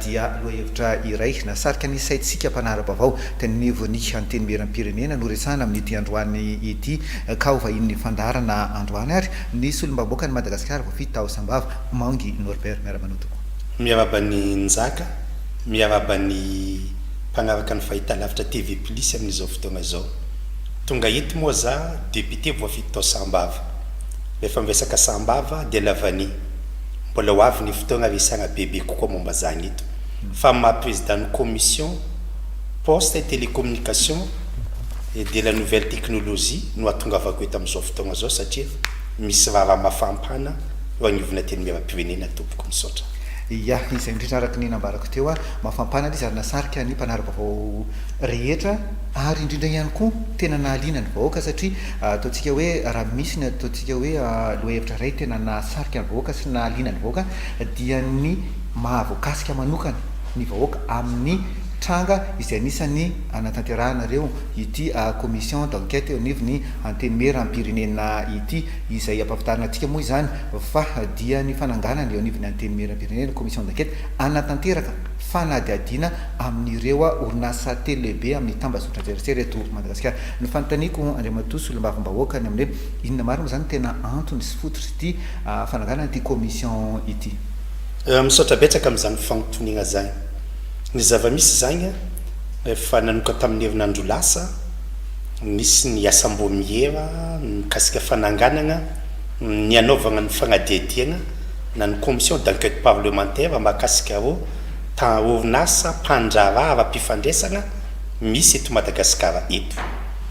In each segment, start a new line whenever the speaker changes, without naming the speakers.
dia lohahevitra iray nahasarika ny saintsika mpanara-baovao teny anivon'ny Antenimierampirenena no resahana amin'ity androany ity. Ka ho vahinin'ny fandaharana androany ary ny Solombavambahoakan'i Madagasikara voafidy tao Sambava, Mangy Norbert. Miara-manoa tokoa. Miarahaba an'i
Njaka, miarahaba ny mpanaraka ny Fahitalavitra TV Plus amin'izao fotoana izao. Tonga eto moa za Député voafidy tao Sambava. Rehefa miresaka Sambava dia lavania. Mbola ho avy ny fotoagna resahagna bebe kokoa momba zagny eto fa amin'ny maha Président ny Commission Poste et Télécommunication et de la Nouvelle Technologie no atongavako eto amin'izao fotoagna zao satria misy raharaha mafampana eo agnivon'ny Antenimierampirenena tompoko. Misaotra. Ia, izay
indrindra araka ny nambarako teo ary mafampana ilay izy ary nasarika ny mpanara-baovao rehetra ary indrindra ihany koa tena nahaliana ny vahoaka satria ataontsika hoe raha misy ny ataontsika Isika hoe lohahevitra iray tena nahasarika ny vahoaka sy nahaliana ny vahoaka dia ny mahavoakasika manokana ny vahoaka amin'ny tranga izay anisan'ny anatanterahanareo ity commission d'enquête eo anivon'ny Antenimieram-pirenena ity. Izay ampahafantarina antsika moa izany fa dia ny fananganana eo anivon'ny Antenimieram-pirenena commission d'enquête hanatanteraka fanadihadiana amin'ireo orinasa telo lehibe amin'ny tambazotran-tserasera eto Madagasikara. Ny fanontaniako Andriamatoa Solombavambahoaka ny amin'ny hoe. Inona marina moa izany no tena antony sy fototr'ity fananganana ity commission ity? Misaotra
betsaka amin'izany fanontoniagna izany. Ny zava-misy izany, efa nanoka tamin'ny herinandro lasa, nisy ny asam-boamiera mikasika fananganagna ny hanaovagna ny fagnadihadiagna na ny commission d'enquête parlementaire mahakasika rô orinasa mpandraharaha ara-pifandresagna misy eto Madagasikara eto.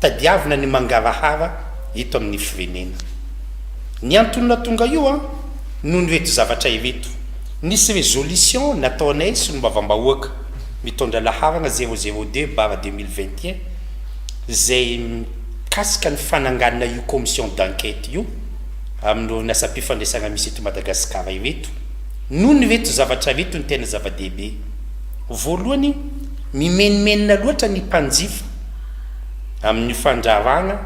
Tadiavina ny mangarahara eto amin'ny firenena. Ny antony nahatonga io an, noho ireto zavatra ireto, nisy résolution nataonay solombavambahoaka mitondra laharana zéro zéro deux barre deux mille vingt et un izay mikasika ny fananganana io commission d'enquête io amin'ireo orinasam-pifandraisana misy eto Madagasikara ireto. Noho ireto zavatra ireto ny tena zava-dehibe. Voalohany, mimenomenona loatra ny mpanjifa. amin'io fandraharahana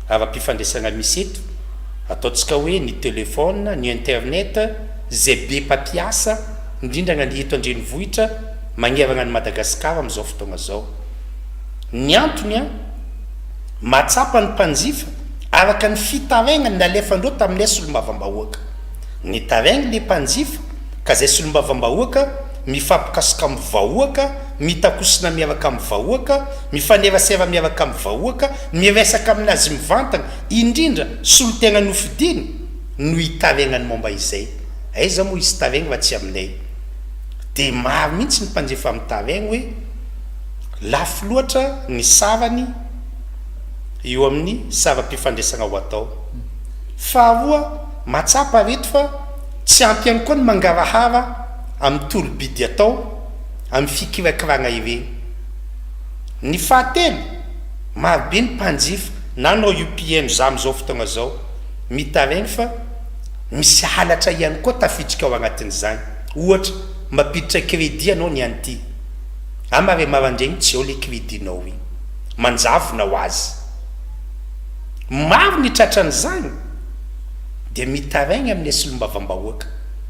ara-pifandraisana misy eto, ataontsika hoe ny telefaona, ny internet, izay be mpampiasa, indrindra na ny eto an-drenivohitra, magnerana an'i Madagasikara amin'izao fotoana izao. Ny antony an! mahatsapa ny mpanjifa araka ny fitarainany nalefandreo tamin'ilay solombavambahoaka. Nitarainy ilay mpanjifa ka izay solombavambahoaka mifampikasoka amin'ny vahoaka, mitakosina miaraka amin'ny vahoaka, mifanerasera miaraka amin'ny vahoaka, miresaka amin'azy mivantana, indrindra solontena nofidiany no hitaregnany momba izay. Aiza moa hisy taregny raha tsy aminay? Dia maro mihitsy ny mpanjifa mitaregny hoe lafo loatra ny sarany eo amin'ny saram-pifandraisagna ho atao. Faharoa, mahatsapa reto fa tsy ampy ihany koa ny mangarahara, amin'ny tolo-bidy atao amin'ny fikirakirana ireny. Ny fahatelo, marobe ny mpanjifa nanao io PMZA amin'izao fotoana izao. Mitaraina fa misy halatra ihany koa tafiditra ao anatin'izany. Ohatra, mampiditra crédit ianao ny an'ity, ama re maraindraigny tsy ao ilay crédit-nao iny. Manjavona ho azy. Maro ny tratran'izany dia mitaraigna amin'ny solombavambahoaka.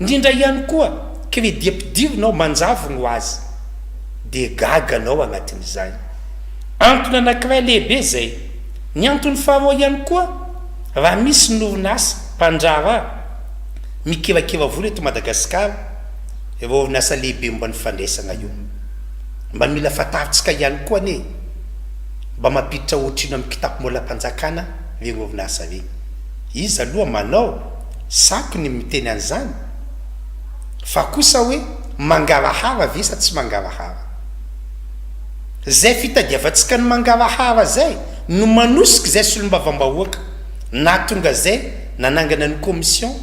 Ndrindra ihany koa credit ampidirina ao manjavona ho azy dia gaga anao agnatin'izany. Antony anankiray lehibe izay. Ny antony faharoa ihany koa raha misy ny orinasa, mpandraharaha, mikirakira vola eto Madagasikara, ireo orinasa lehibe momba ny fandraisagna io. Mba mila fantarintsika ihany koa anie e, mba mampiditra ohatrino amin'ny kitapo molampanjakana regny orinasa regny? Iza aloha manao? Zako ny miteny an'izany fa kosa hoe mangarahara ve sa tsy mangarahara? Zay fitadiavantsika ny mangarahara zay no manosika zay solombavambahoaka nahatonga zay nanangana ny commission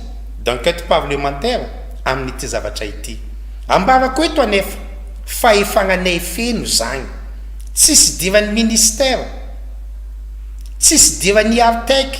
d'enquête parlementaire amin'ity zavatra ity. Ambarako eto anefa fa efa ananay feno zagny. Tsisy idiran'ny ministère, tsisy idiran'ny Artec.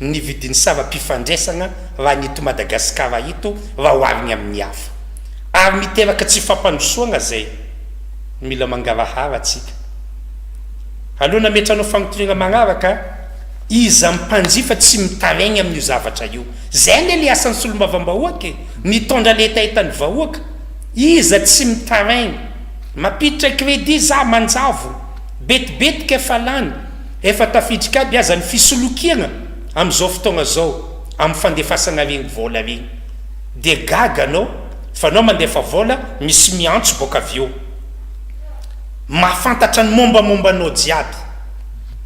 ny vidin'ny saram-pifandraisana raha ny eto Madagasikara eto raha ohariny amin'ny hafa. Ary miteraka tsy fampandrosoana izay. Mila mangarahara antsika. Aleo nametranao fagnotoniana magnaraka, iza mpanjifa tsy mitaraigny amin'io zavatra io. Zay anie le asan'ny solombavambahoaka e, mitondra le hetahetan'ny vahoaka. Iza tsy mitaraigny. Mampiditra credit za manjavona. Betibetika efa lany. Efa tafiditra aby aza ny fisolokiana amin'izao fotoagna zao amin'ny fandefasagna regny vôla regny dia gaga anao fa anao mandefa vôla misy miantso bôka avy eo mahafantatra ny mômbamômba anao jiaby.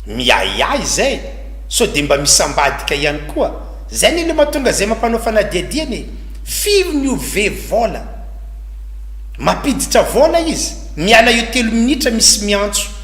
Miahiahy zay sao dia mba misy ambadika ihany koa. Zay anie le mahatonga zay mampanao fanadihadiana e. Firy ny ove vôla? Mampiditra vôla izy, miala eo telo minitra misy miantso.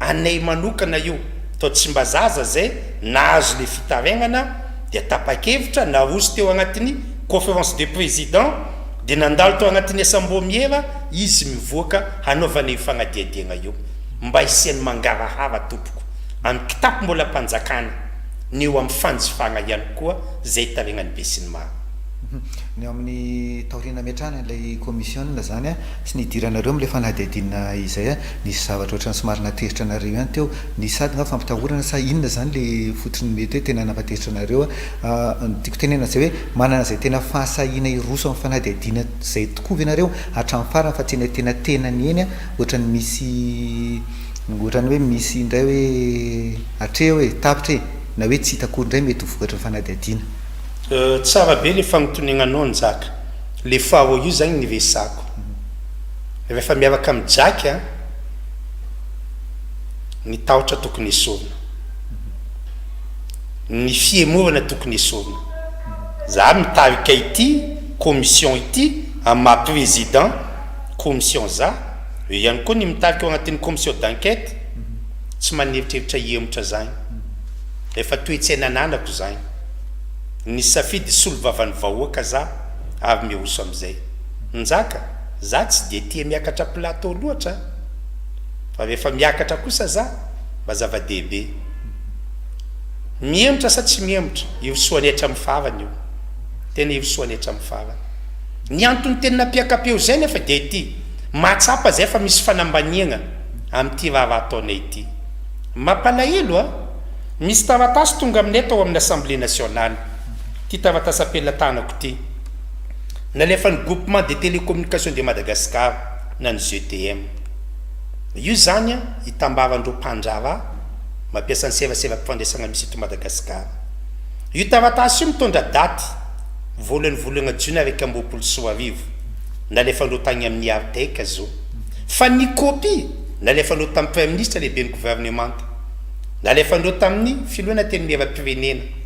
Anay manokana io tao Tsimbazaza zay nahazo le fitarainana dia tapakevitra naroso teo agnatin'ny conférence des présidents dia nandalo tao agnatin'ny asambômiera izy mivoaka hanaovana io fagnadiadiagna io mba hisian'ny mangarahara tompoko amin'ny kitapo mbola mpanjakana ny eo amin'ny fanjifagna ihany koa zay taregnan'ny besinimaro. Ny
amin'ny taoriana ametrahana ilay kaomisiona zany. Tsy nidiranareo amin'ilay fanadihadiana izay a! Nisy zavatra ohatran'ny somary natezitra anareo ihany teo. Nisy sady nga fampitahorana sa inona izany ilay fototry ny mety hoe tena nampatezitra anareo a! Ny tiako tenenana izay hoe manana izay tena fahasahiana hiroso amin'ny fanadihadiana izay tokoa ve nareo hatramin'ny farany fa tsy ilay tena tenany eny a! Ohatran'ny misy ohatran'ny hoe misy indray hoe hatreo e! Tapitra e! Na hoe tsy hita akory indray mety ho vokatry ny fanadihadiana. Tsara
be le fagnotonenanao Njaka. Le faro io zany ny resako. Refa miaraka am jaky a. Ny tahotra tokony esorina. Ny fihemorana tokony esorina. Za mitarika ity commission ity am maha président commission za. Eo ihany koa ny mitarika ao anatin'ny commission d'enquête. Tsy maneritreritra hihemotra zagny. Efa toetsaina ananako zagny. Nisafidy hisolo vavan'ny vahoaka za. ary miroso amin'izay. Njaka, za tsy dia tia miakatra plateau loatra an! Fa rehefa miakatra kosa za, mba zava-dehibe. Mihemotra sa tsy mihemotra, irosoany hatramin'ny farany io. Tena irosoany hatramin'ny farany. Ny antony tena nampiaka-peo izay nefa dia ity, mahatsapa izay fa misy fanambaniagna amin'ity raharaha ataonay ity. Mampalahelo an! Misy taratasy tonga aminay tao amin'ny Assemblée nationale. Ty taratasam-pelina tanako ty. Nalefan'ny Groupement des Télécommunications de Madagascar na ny GTM. Io zany an, itambaran'ireo mpandraharaha mampiasa ny seraseram-pifandraisana misy eto Madagasikara. Io taratasy io mitondra daty voalohan'ny volana jiona iraika amby roapolo sy roa arivo, nalefan'ireo tagny amin'ny IRTEC zo. Fa ny copie, nalefan'ireo tamin'ny Praiminisitra, Lehiben'ny Governemanta. Nalefan'ireo tamin'ny Filoha Antenimierampirenena.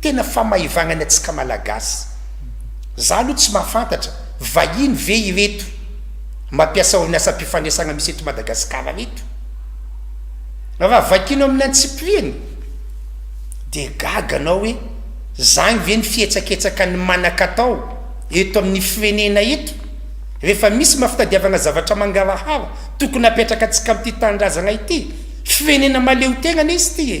Tena famaivagnany atsika malagasy. Za aloha tsy mahafantatra, vahiny ve ireto mampiasa orinasam-pifanesagna misy eto Madagasikara reto? Raha vakino amin'ny antsipiriany dia gaga anao hoe zagny ve ny fietsaketsakan'ny manan-katao eto amin'ny firenena eto? Rehefa misy maha-fitadiavagna zavatra mangarahara tokony hapetraka antsika amin'ity tanindrazagna ity, firenena mahaleotegna anie izy ity e!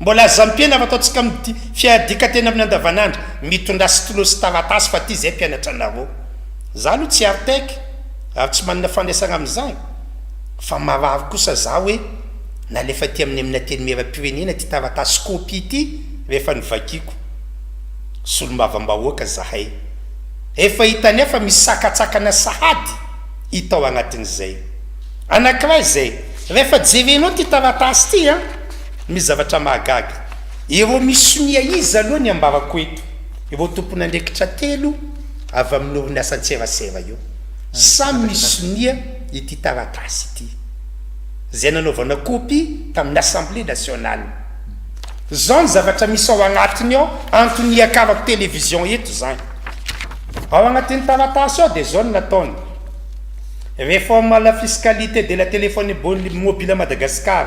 Mbola aza ampiana fa ataontsika mdy fiadikan-tena amin'ny andavanandro mitondra stylo sy taratasy fa ty zay mpianatra anareo. Za aloha tsy artec ary tsy manana fandraisana amin'izany fa marary kosa za hoe nalefa aty amin'ny amin'ny antenimieram-pirenena ty taratasy copie ty rehefa novakiako. Solombavambahoaka zahay. Efa hitanay fa misy sakantsakana sahady hita ao anatin'izay. Anankiray izay, rehefa jerenao ty taratasy ty an, Misy zavatra mahagaga. Ireo misonia iza aloha ny ambarako eto? Ireo tompon'andraikitra telo avy amin'ny orinasa an-tserasera io. Samy misonia ity taratasy ity, izay nanaovana kopy tamin'ny Assemblée nationale. Izao ny zavatra misy ao agnatiny ao, antony hiakarako télévision eto izany. Ao agnatin'ny taratasy ao dia izao no nataony, Réforme à la fiscalité de la téléphonie mobile à Madagascar.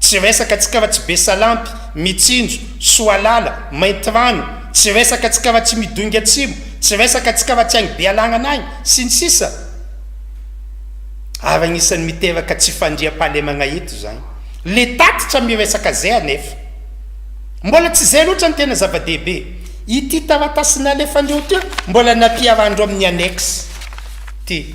Tsy resaka tsika raha tsy be salampy, mitsinjo, soalala, maintirano, tsy resaka tsika raha tsy midoinga atsimo, tsy resaka tsika raha tsy any Bealagnana any, sy ny sisa Ary agnisan'ny miteraka tsy fandriampahalemagna eto zany le tatitra miresaka zay anefa mbola tsy zay loatra ny tena zava-dehibe. Ity taratasy nalefandreo ty mbola nampiharandreo amin'ny annexe ty.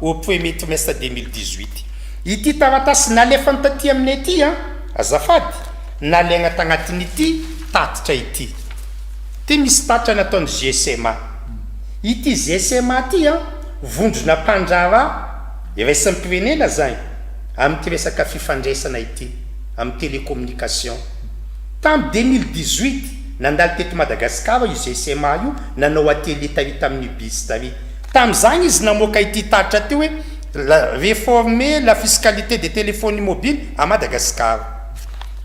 au premier trimestre deux mille dix huit. Ity taratasy nalefany taty aminay ity an, azafady, nalaigna tagnatin'ity tatitra ity. Ty misy tatitra nataony GSMA. Ity GSMA ty an, vondrona mpandraharaha iraisam-pirenena zany amity resaka fifandraisana ity, am télécommunication. Tam deux mille dix huit, nandalo teto Madagasikara io GSMA io nanao atelier tary taminio BIS tary. Tamin'izany izy namoaka ity tatitra ity hoe Réformer la fiscalité des téléphones mobiles à Madagascar.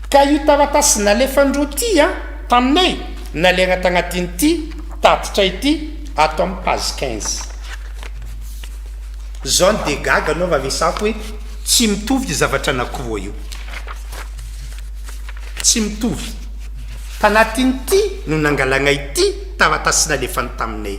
Ka io taratasy nalefan'ireo tia taminay nalaina tagnatin'ity tatitra ity ato amin'ny page quinze. Zao no dia gaga anao raha resako hoe tsy mitovy io zavatra anankiroa io. Tsy mitovy. Tanatin'ity no nangalagna ity taratasy nalefany taminay.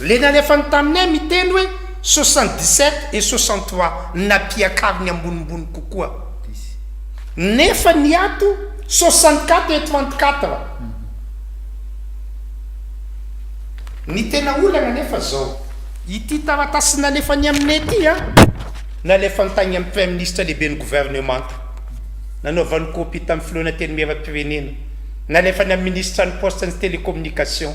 Le nalefany taminay miteny hoe soixante dix sept et soixante trois nampiakariny ambonimbony kokoa izy. Nefa ny ato soixante quatre et trente quatre. Ny tena olana nefa zao. Ity taratasy nalefany aminay ity an, nalefany tagny amin'ny Praiminisitra Lehiben'ny Governemanta. Nanaovany copie tamin'ny Filohan'Antenimierampirenena. Nalefany amin'ny Minisitran'ny Poste and Telecommunication.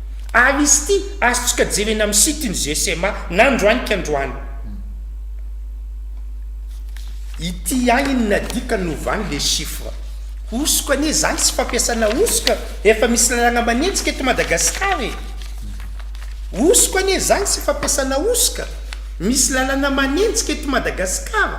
Ary izy ity azontsika jerena amin'ny site ny GCMA na androany ka androany. Ity ihany inona dikany no ovany le chiffre. Hosoka anie zany sy fampiasana hosoka efa misy lalagna manenjika eto Madagascar e! Hosoka anie zany sy fampiasana hosoka misy lalana manenjika eto Madagascar.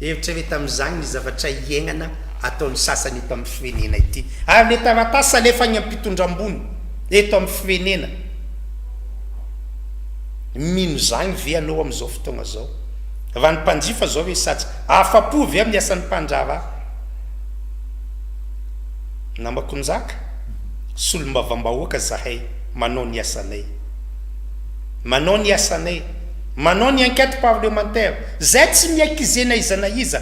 Eritrereta amizany ny zavatra iaignana ataon'ny sasany eto amin'ny firenena ity. Ary le taratasy alefa any ampitondra ambony eto amin'ny firenena, mino zagny ve anao amin'izao fotoagna zao? Raha ny mpanjifa zao resatsy, afa-po ve amin'ny asan'ny mpandraharaha? Namako Njaka, solombavambahoaka zahay, manao ny asanay. Manao ny asanay. Manao ny enquête parlementaire. Zay tsy miaiky ze na iza na iza.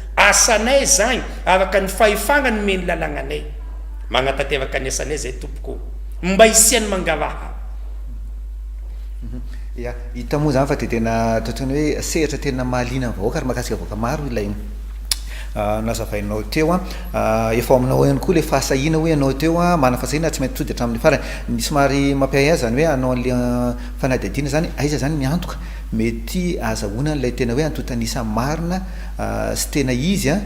Asanay izany araka ny fahefagna nomen'ny lalagnanay. Magnatanteraka ny asanay izay tompoko ô. Mba hisian'ny mangaraha.
Ya, hita moa izany fa dia tena totoina hoe sehatra tena mahaliana ny vahoaka ary mahakasika vahoaka maro ilay nazavainao teo. Efa ao aminao ao ihany koa ilay fahasahiana hoe ianao teo manana fahasahiana ary tsy maintsy tody hatramin'ny farany. Ny somary mampiahiahy izany hoe hanao an'ilay fanadihadiana izany, aiza izany ny antoka mety ahazahoana an'ilay tena hoe antontan'isa marina? sy tena izy an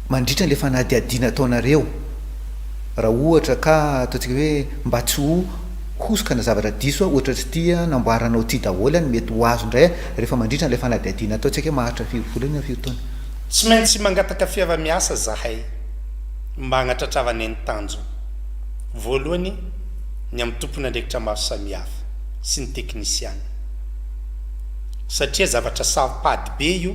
mandritra an'ilay fanadihadiana ataonareo raha ohatra ka ataontsika hoe mba tsy ho hosoka na zavatra diso an ohatra tsy ity an namboaranao ity daholo an mety ho azo indray an rehefa mandritra an'ilay fanadihadiana ataontsika hoe maharitra firy volana firy taona. Tsy maintsy
mangataka fiarahamiasa zahay mba hagnatratravanay ny tanjona. Voalohany ny amin'ny tompon'andraikitra maro samihafa sy ny teknisiana satria zavatra saropady be io.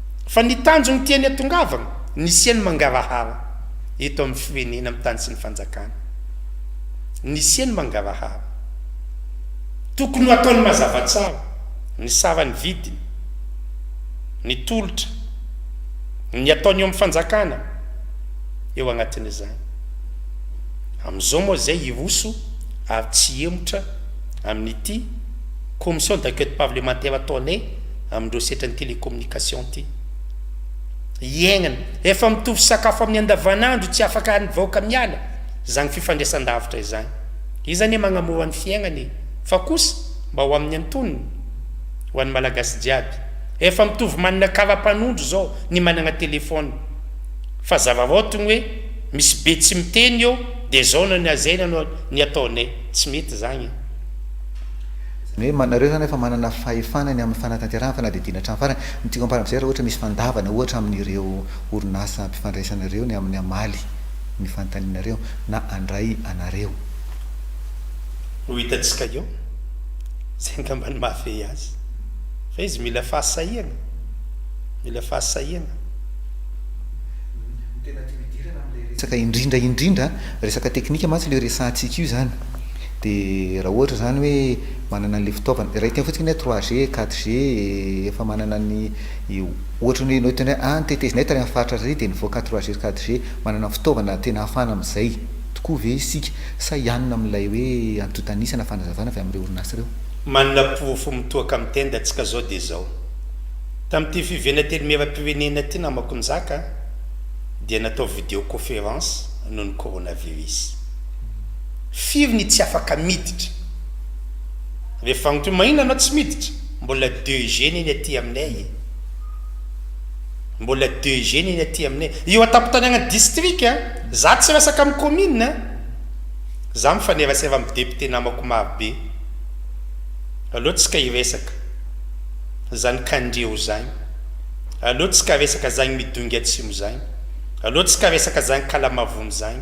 Fa ny tanjony tiany atongavana, ny hisian'ny mangarahara eto amin'ny firenena, amin'ny tany sy ny fanjakana. Ny hisian'ny mangarahara. Tokony ho ataony mazava tsara ny saran'ny vidiny, ny tolotra, ny ataony eo amin'ny fanjakana eo agnatin'izany. Amin'izao moa izay hiroso ary tsy hihemotra amin'ity commission d'enquête parlementaire ataonay, amin'ireo setran'ny télécommunication ity iaignana efa mitovy sakafo amin'ny andavanandro tsy afaka any vahoaka miala zany fifandraisandavitra izany izy anie magnamora ny fiaignana e fa kosa mba ho amin'ny antonony ho an'ny malagasy jiaby efa mitovy manana karapanondro zao ny managna téléphone fa zavavaotogny hoe misy be tsy miteny eo de zao na ny azaina no ny ataonay tsy mety zagny
Ny hoe manareo izany efa manana fahefana ny amin'ny fanatanterahana fanadihadiana hatramin'ny farany. Ny tiako amparana amin'izay raha ohatra misy fandavana ohatra amin'ireo orinasa ampifandraisana ireo ny amin'ny hamaly ny fanontanianareo na handray anareo.
Ho hitantsika eo izay angamba ny mahafehy azy. Fa izy mila fahasahiana, mila fahasahiana. Ny
tena tiako hidirana amin'ilay resaka indrindra indrindra resaka teknika mantsy ilay resahantsika io izany. Dia raha ohatra izany hoe manana an'ilay fitaovana, iray teny fotsiny hoe trois G, quatre G, efa manana an'i, ohatra hoe ianao hiteny hoe, ah ny tetezinay tany amin'ny faritra ary dia nivoaka trois G, quatre G. Manana ny fitaovana tena ahafahana amin'izay tokoa ve isika sa hianona amin'ilay hoe antontan'isa na fanazavana avy amin'ireo orinasa ireo? Manana porofo
mitohaka amin'ny tendantsika izao dia izao, tamin'ity fivenan-tenimieram-pirenena ity namako nizaka an, dia natao video-coference noho ny coronavirus. Firy ny tsy afaka miditra? Rehefa agny toy maina anao tsy miditra? Mbola deux jeunes eny aty aminay e! Mbola deux jeunes eny aty aminay. Io an-tampon-tany agny district a! Za tsy resaka amin'ny commune a! Za mifanerasera amin'ny député namako maro be. Aleo tsika hiresaka. Zany Kandriao zagny. Aleo tsika resaka zagny Midongy Atsimo zagny. Aleo tsika resaka zagny Kalamavony zagny.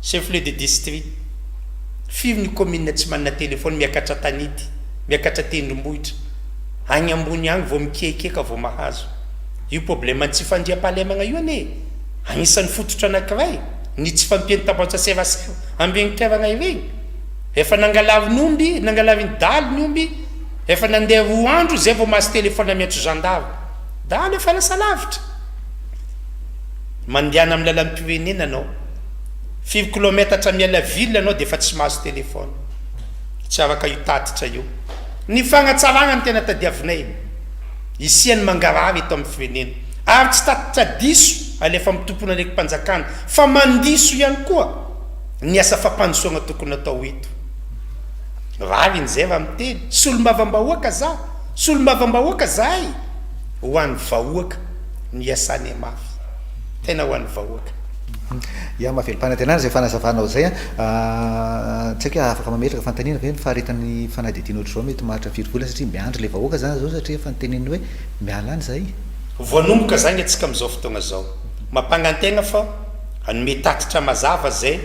Chef-lieu de district. Firy ny commune tsy manana téléphone miakatra tanety, miakatra tendrombohitra, agny ambony agny vao mikiakiaka vao mahazo. Io problème ny tsy fandriampahalemagna io anie agnisan'ny fototra anakiray ny tsy fampian'ny tabatsa serasera ambiregny toeragna iregny. Efa nangalarin'ny omby, nangalarin'ny daly ny omby, efa nandeha roa andro zay vao mahazo téléphone miantso zandary. Daly efa lasa lavitra. Mandehana amin'ny lalam-pirenena anao. Firy kilometatra miala ville ianao dia efa tsy mahazo téléphone. Tsy afaka io tatitra io. Ny fanatsarana no tena tadiavinay. Hisian'ny mangarahara eto amin'ny firenena. Ary tsy tatitra diso alefa amin'ny tompon'andraiki-panjakana fa mandiso ihany koa ny asa fampandrosoana tokony atao eto. Rariny izay raha miteny. Solombavambahoaka za. Solombavambahoaka zahay. Ho an'ny vahoaka no iasanay mafy. Tena ho an'ny vahoaka. Yah,
mahavelom-panantenana izay fanazavanao izay an! Tsy haiko hoe afaka mametraka fanontaniana ve ny faharetan'ny fanadihadiana ohatr'izao mety maharitra firy volana satria miandry ilay vahoaka izany izao satria efa noteneniny hoe miala any izahay? Voanomboka izany
antsika amin'izao fotoana izao. Mampangan-tena fa hanome tatitra mazava izay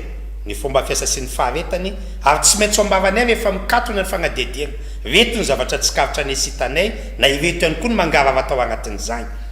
ny fomba fiasa sy ny faharetany ary tsy maintsy ho ambaranay rehefa mikatona ny fanadihadiana. Ireto ny zavatra tsikaritra anay sy hitanay na ireto ihany koa no mangarahara tao anatin'izany.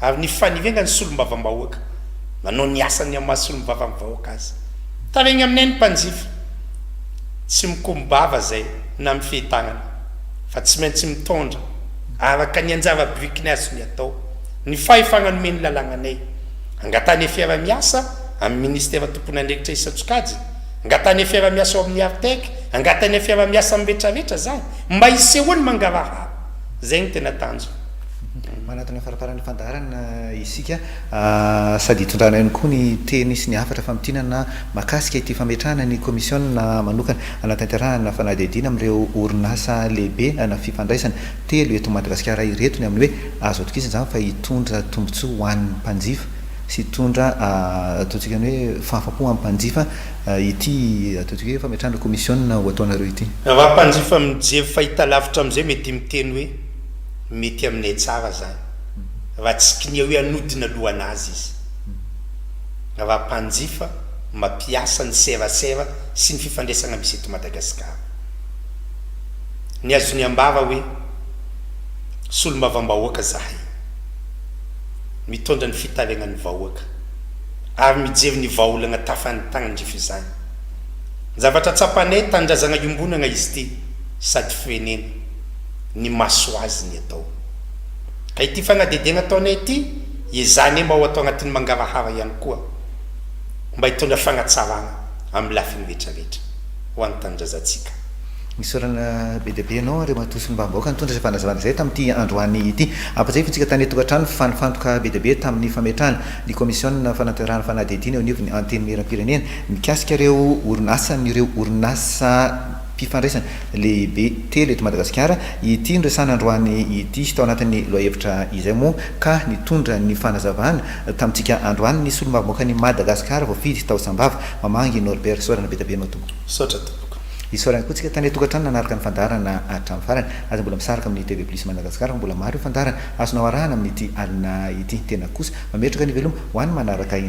Ary ny fanirenga ny solombavambahoaka manao ny asany amin'ny maha solombavamn vahoaka azy. Taraigny aminay ny mpanjifa. Tsy mikombava zay na mifehy tagnana fa tsy maintsy mitondra araka ny anjara birikiny azony atao ny fahefagna nomen'ny lalagnanay. Angatahana fiarahamiasa amin'ny ministera tompon'andraikitra isan-tsokajiny, angatahana fiarahamiasa ao amin'ny Artec, angatahana fiarahamiasa amin'ny retraretra zany mba hisehoany mangarahara. Zay no tena tanjona. Manatona
farafahara'ny fandaharana isika sady hitondrana ihany koa ny teny sy ny hafatra famintinana mahakasika ity fametrahana ny kaomisiona manokana hanatanterahana fanadihadiana amin'ireo orinasa lehibe ana fifandraisana telo eto Madagasikara ireto ny amin'ny hoe azo atokisana izany fa hitondra tombontsoa ho an'ny mpanjifa sy hitondra ataontsika ny hoe fahafapo amin'ny mpanjifa ity ataontsika hoe fametrahana kaomisiona ho ataonareo ity. Raha mpanjifa
mijery fahitalavitra amin'izay mety miteny hoe. Mety aminay tsara zany raha tsy kiniao ianodina lohanazy izy. Raha mpanjifa mapiasa ny serasera sy ny fifandraisana misy eto Madagascar. Ny azony ambara hoe solombavam-bahoaka zahay. Mitondra ny fitarenan'ny vahoaka ary mijery ny vahaolana tafan'ny tanan-drifa izany. Zavatra tsapanay tanindrazana iombonana izy ity sady firenena. ny masoaziny atao. Ka ity fanadihadiana ataonay ity, ezahanay mba ho atao anatin'ny mangarahara ihany koa, mba hitondra fanatsarana amin'ny lafiny rehetrarehetra ho an'ny tanindrazantsika. Isaorana
be dia be ianao Andriamatoa Solombavambahoaka nitondra izay fanazavana izay tamin'ity androany ity. Ampatsiahiviko isika tany an-tokantrano fa nifantoka be dia be tamin'ny fametrahana ny kaomisiona fanatanterahana fanadihadiana eo anivon'ny Antenimierampirenena mikasika ireo orinasa an'ireo orinasa fifandraisana lehibe telo eto Madagasikara ity noresahana androany ity. Tao anatin'ny lohahevitra izay moa ka nitondra ny fanazavana tamintsika androany ny solombavambahoakan'i Madagasikara voafidy tao Sambava, Mamangy Norbert. Isaorana be dia be anao Tompoko. Misaotra Tompoko.
Isaorana koa tsika tany
an-tokantrano nanaraka ny fandaharana hatramin'ny farany. Aza mbola misaraka amin'ny TV Plus Madagascar fa mbola maro ireo fandaharana azonao arahana amin'ity alina ity. Tena kosa, mametraka ny veloma ho an'ny manaraka indray.